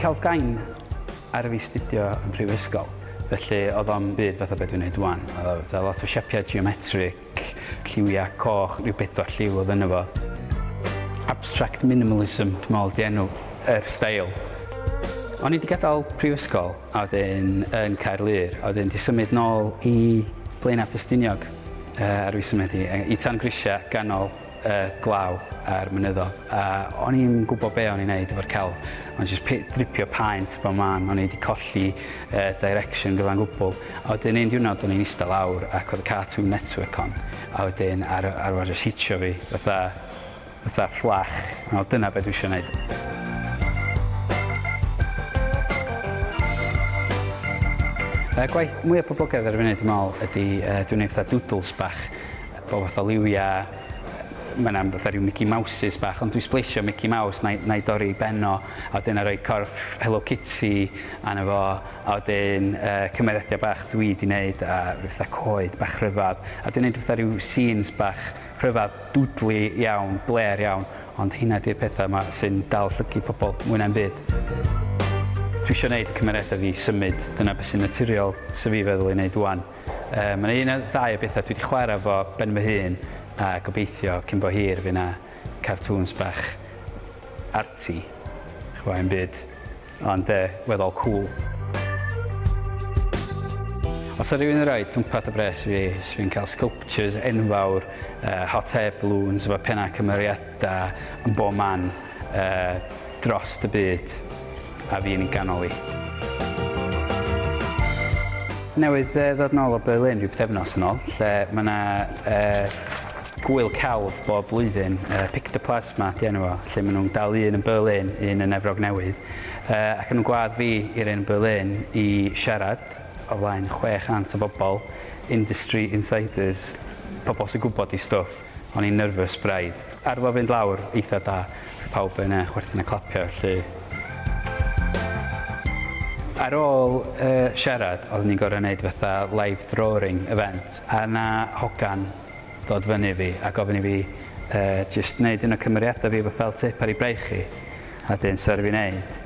Celtgain ar y fi studio yn prifysgol. Felly oedd o'n byd fatha beth dwi'n gwneud wan. Oedd a lot o siapiau geometric, lliwiau coch, rhyw bedwar lliw oedd yna fo. Abstract minimalism, dwi'n meddwl, di enw yr stael. O'n i wedi gadael prifysgol a wedyn yn Caerlŷr, a wedyn 'di symud nôl i Blaenau Ffestiniog ar ôl fi symud i tan grisiau ganol y glaw a'r mynyddoedd, a o'n i'm yn gwybod be o'n i'n neud efo'r celf, o'n jyst dripio paent bob man, o'n i wedi colli direction gyfan gwbl, a wedyn un diwrnod o'n i'n eistedd lawr ac oedd y Cartoon Network on, a wedyn ar, arfer sitio fi fatha Fatha fflach. Wel dyna be dwi isio neud. Y gwaith mwya poblogaidd ar y funud dwi me'wl ydi yy dwi'n neud fatha doodles bach o fatha liwia, ma' 'na fatha ryw Mickey Mouses bach ond dwi sbleisio Mickey Mouse na'i na'i dorri i ben o a wedyn na'i roi corff Hello Kitty arno fo a wedyn yy cymeriadia bach dwi 'di neud a ryw fatha coed bach rhyfadd a dwi'n neud fatha ryw scenes bach Rhyfedd dwdli iawn, blêr iawn, ond heina di'r pethau yma sy'n dal llygid pobl mwy na'm byd. Dwi isio neud y cymeriadau fi symud, dyna beth sy'n naturiol sydd fi feddwl i neud ŵan. Yy mae 'na un neu ddau o bethau dwi 'di chwarae efo ben fy hun a gobeithio cyn bo hir fydd 'na cartŵns bach arty, ch'bo' 'im byd Ond de, weddol cŵl. Os ydy rhywun yn rhoi twmpath y bres fi, sy'n fi'n cael sculptures enfawr, uh, hot air balloons, efo pennau cymeriadau yn bob man uh, dros y byd, a fi'n ei ganol i. Newydd uh, ddod nôl o Berlin rhyw pethefnos yn ôl, lle mae yna uh, Gŵyl celf bob blwyddyn, yy Pictoplasma 'di enw fo, lle ma' nhw'n dal un yn Berlin, un yn Efrog Newydd, yy ac o'n nhw'n gwadd fi i'r un yn Berlin i siarad o flaen 600 o bobl, industry insiders, pobl sy'n gwybod eu stwff, o'n i'n nervous braidd. Arno fynd lawr eitha' da, pawb yn yy chwerthin a clapio 'lly. Ar ôl yy siarad oedden ni'n gorfod 'neud fatha live drawring event a 'na hogan ddod fyny i fi a gofyn i fi yy jyst neud un o cymeriada fi efo felt tip ar ei braich hi a 'dyn so aru fi neud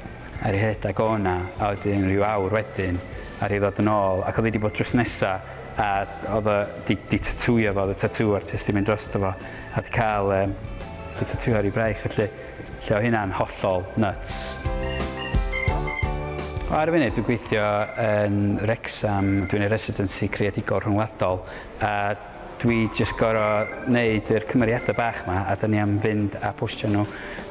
a ri rhedag o 'na a wedyn ryw awr wedyn aru hi ddod yn ôl ac o'dd 'i 'di bod drws nesa a o'dd o 'di 'di tatŵio fo o'dd y tatŵ artist 'di mynd drosto fo a 'di ca'l yy 'di tatŵio ar ei braich felly lle o' hynna'n hollol nyts. Ar y funud dwi'n gweithio yn Wrecsam dwi'n neud residency creadigol rhyngwladol A dwi jyst gor'o' neud yr cymeriada' bach 'ma a 'dyn ni am fynd a postio nhw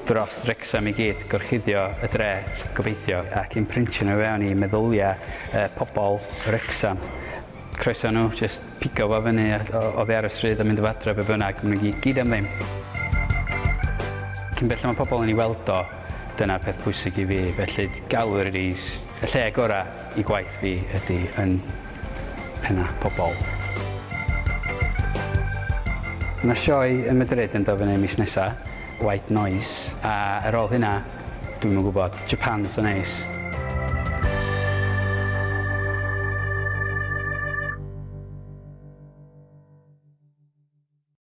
drost Wrecsam i gyd, gorchuddio y dre, gobeithio, ac imprintio nhw i fewn i meddylia' y pobol Wrecsam. Croeso i nhw jyst pigo fo fyny a o- oddi ar y stryd a mynd â fo adre be' bynnag, ma' nhw i gyd am ddim. Cyn belled ma' pobol yn 'i weld o, dyna'r peth pwysig i fi, felly galw ar y lle gora'. Y gwaith fi ydy yn penna pobol. Mae 'na sioe ym Madrid yn dod fyny mis nesa, White Noise, a ar ôl hynna, dwi'm yn gwybod, Japan 'sa neis.